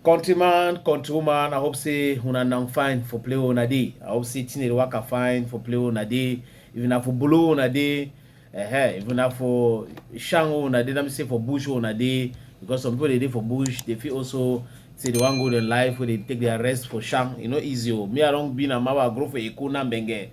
countryman countrywoman i hope say una now fine for play una dey i hope say thing dey waka fine for play una dey if na for bolo una dey uh, if na for shango una dey let me say for bush una dey because some people dey dey for bush dey fit also say they wan go their life wey dey take their rest for sham e no easy o oh. me i don be na mawa grow for eko na mbenge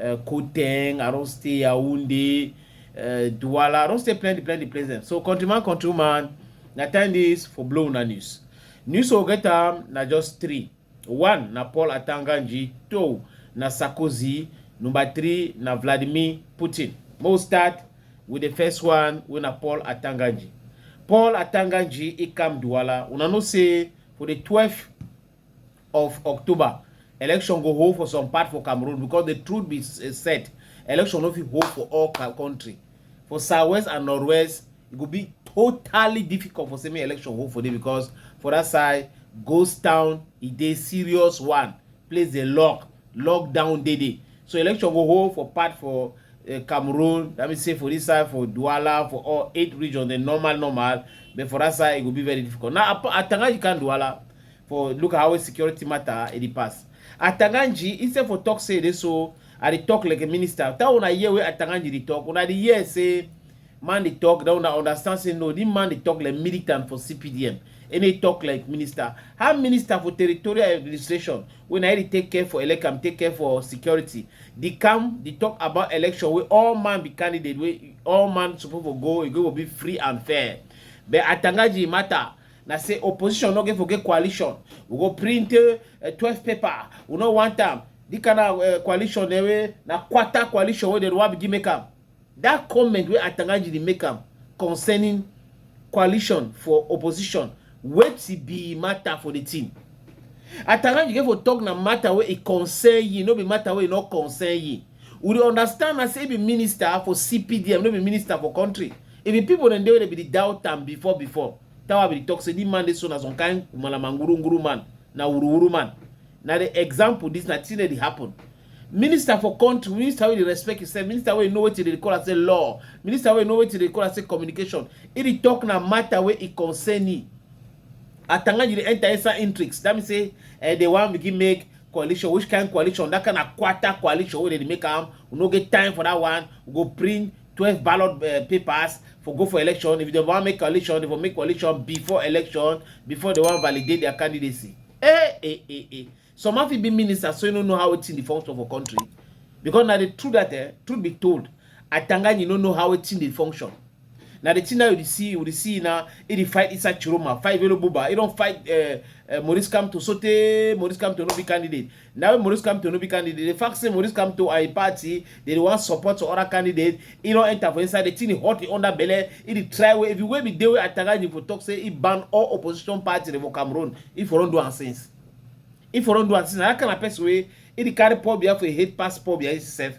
uh, Koteng, I don't stay Yaoundé, uh, Douala, I don't stay plenty, plenty places. So countryman, countryman, na time this for blow na news. News will get am na just three. One na Paul Atanganji, two na Sarkozy, number three na Vladimir Putin. We'll start with the first one wey na Paul Atanganji. Paul Atanganji, he come Douala. Una know say for the 12th of october election go hold for some part for cameroon because the truth be eh, said election no fit hold for all country for southwest and northwest e go be totally difficult for semi election hold for there because for that side ghost town e dey serious one place dey lock lockdown dey dey so election go hold for part for uh, cameroon that means say for this side for douala for all eight regions the normal normal but for that side e go be very difficult now atangaji kan douala for look at how security matter e dey pass atanganji instead for talk say e dey so i dey talk like a minister that una hear wey atanganji dey talk una dey hear say man dey talk then una understand say no this man dey talk like militant for cpdm and dey talk like minister how minister for territorial administration wey na he dey take care for elecam take care for security dey come dey talk about election wey all man be candidate wey all man suppose for go e go for be free and fair but atanganji matter na say opposition no get for get coalition we go print uh, twelve paper we no want am the kind of uh, coalition eh, wey na quarter coalition wey dem wan begin make am that comment wey atangaji dey make am concerning coalition for opposition wetin be matter for the team atangaji get for talk na matter wey e concern ye no be matter wey e no concern ye We dey understand am say e be minister for CPDM, no be minister for country. E be people dem dey wey dey be the doubt am before before. That why we dey talk say this man dey so na some kind malamanguruunguru man, na wuruwuru man. Na the example this na thing wey dey happen. Minister for country, minister wey dey respect himself, minister wey know wetin dey call am say law, minister wey know wetin dey call am say communication. He dey talk na matter wey e concern him. Atanganji dey enter inside intrigues. That means say eh, they wan begin make coalition which kind coalition that kind of quarter coalition wey dey make am we no get time for that one we go print twelve ballot uh, papers for go for election if they wan make coalition they for make coalition before election before they wan validate their candidacy eh eh eh eh some of fit be ministers so you no know how wetin dey function for country because na the truth that eh, truth be told atanganyi no know how wetin dey function na the thing now you dey see you dey see now he dey fight inside chiroma fight velo buba he don fight uh, uh, maurice kamto sotey maurice kamto no be candidate na when maurice kamto no be candidate the fact say maurice kamto and him party dey dey wan support to other candidate he don enter for inside the thing dey hot him under belle he dey try way if you wey be dey wey atagaji for talk say he ban all opposition party dey for cameroon he for don do am since he for don do am since na that kind of person wey he dey carry pobia for hate pass pobia himself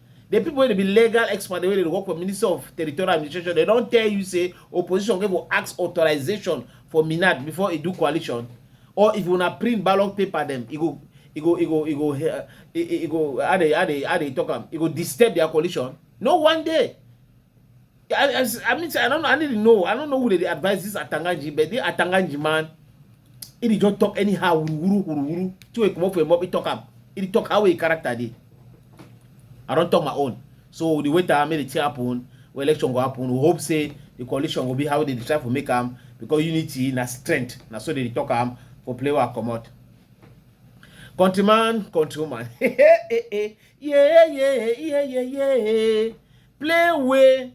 the people wey dey be legal expert wey dey work for ministry of territorial administration dem don tell you say opposition go go ask authorization for minat before e do coalition or if una print ballot paper dem e go e go e go e go eh, e e- e go how dey how dey how dey talk am e go disturb their coalition no one day I, I, I mean, I don't know. I need to know. I don't know who they advise this Atanganji, but the Atanganji man, he did just talk anyhow. Wuru wuru wuru. To come up for him, he talk up. He talk how he character did. I don't talk my own. So the way that I made it happen, when election go happen, we hope say the coalition will be how they try to make them because unity na strength. Na so they talk am for play wa comot. Countryman, countrywoman. yeah, yeah, yeah, yeah, yeah. play wey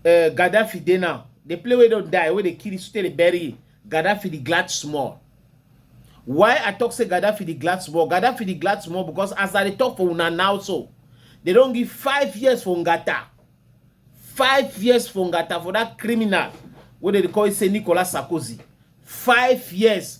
uh, Gaddafi dey now, the play wey don die, wey dey kill still dey bury Gaddafi the glad small. Why I talk say Gaddafi the glad small? Gaddafi the glad small because as I dey talk for una now so, they don give five years for Ngata. Five years for Ngata for that criminal wey dey call say Nicolas Sarkozy. Five years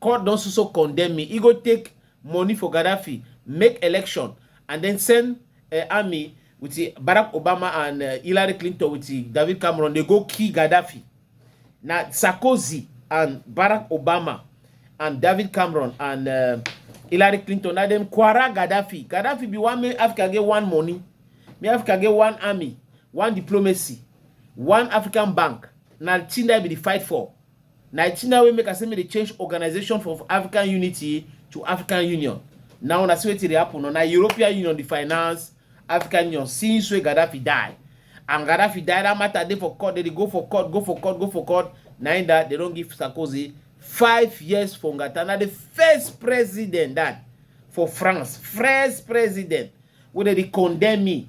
Court don so so condemn me. E go take money for Gaddafi, make election, and then send uh, army with uh, Barack Obama and uh, Hillary Clinton with uh, David Cameron. They go kill Gaddafi. Now Sarkozy and Barack Obama and David Cameron and uh, Hillary Clinton. Now them quarrel Gaddafi. Gaddafi be one man. Africa get one money. Me Africa get one army, one diplomacy, one African bank. Now Chinda be the fight for. Na thing now wey make I say make they change organization from African Unity to African Union. Now na see wetin dey happen. Now, na European Union dey finance African Union since wey Gaddafi die. And Gaddafi die, that matter dey for court. They dey go for court, go for court, go for court. Na in that they don't give Sarkozy five years for Ngata. Now the first president that for France, first president wey they dey condemn me.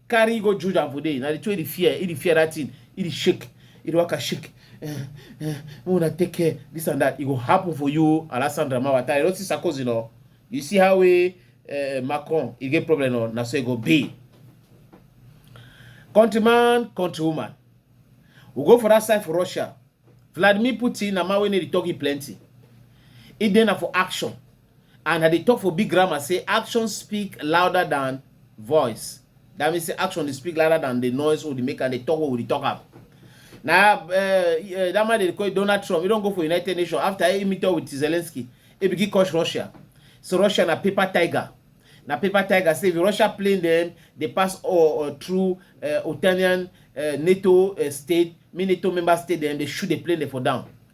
carry go juju am for there na the two e dey fear e dey fear that thing e dey shake e dey waka shake eh, eh, make una take care this and that e go happen for you alessandra mawata you no see sarkozy no you see how we uh, macron e get problem no na so e go be countryman countrywoman we go for that side for russia vladimir putin na man wey no dey talk e plenty e dey na for action And I dey talk for big grammar say action speak louder than voice. That means say action dey speak louder than the noise wey dey make and dey talk wey we dey talk am. Na uh, uh, that man dey call Donald Trump. He don go for United Nations after he meet up with Zelensky. He begin curse Russia. So Russia na paper tiger. Na paper tiger say if Russia plane dem dey pass all uh, through uh, Otanian uh, NATO uh, state, me NATO member state dem dey shoot the plane dem for down.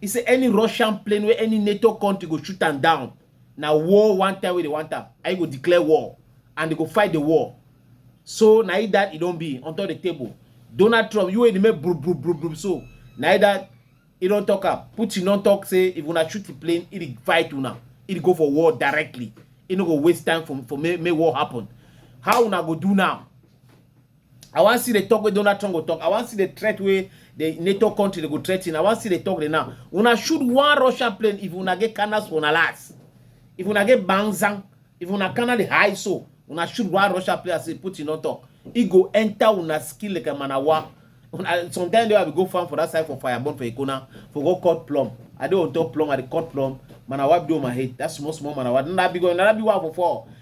He say any Russian plane where any NATO country go shoot them down. Now war one time where they want them. I go declare war and they go fight the war. So now that it don't be on top the table. Donald Trump, you ain't make bro bro bro bro. So now that it don't talk up. Putin don't talk say if wanna shoot the plane, it fight you now. It go for war directly. It no go waste time for for make, make war happen. How una go do now? I wan see the talk wey Donald Trump go talk. I wan see the threat wey the NATO country dey go threaten. I wan see the talk dey now. Una shoot one Russian plane if una get cannons for una last. If una get banzan, if una cannon dey high so, una shoot one Russian plane as Putin don talk. E go enter una skin like a manawa. Una, sometimes they will go farm for that side for Fireborn for Ikona for go cut plum. I dey on top plum, I dey cut plum. Manawa do my head. That small small manawa. That big one, that big one for four.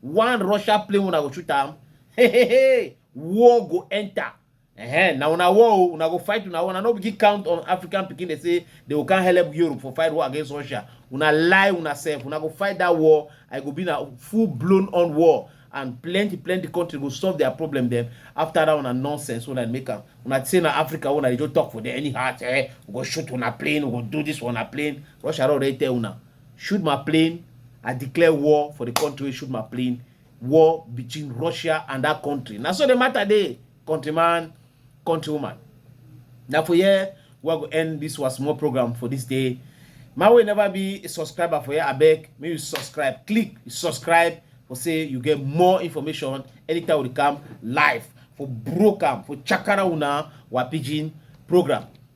one russia plane una go shoot am hey, hey, hey. war go enter uh-huh. na una war o una go fight una war una no begin count on african pikin dey say they go come help europe for fight war against russia una lie una sef una go fight that war i go be na full blown on war and plenty plenty country go solve their problem dem after that una nonsense una make am una say na africa una dey just talk for there anyhow eh we go shoot una plane we go do this una plane russia don already tell una shoot my plane i declare war for the country wey shoot my plane war between russia and that country na so the matter dey countryman countrywoman na for here we go end this was small program for this day my way never be a subscriber for here abeg make you subscribe click subscribe for say you get more information anytime we come live for broke am for chakara una wa pidgin program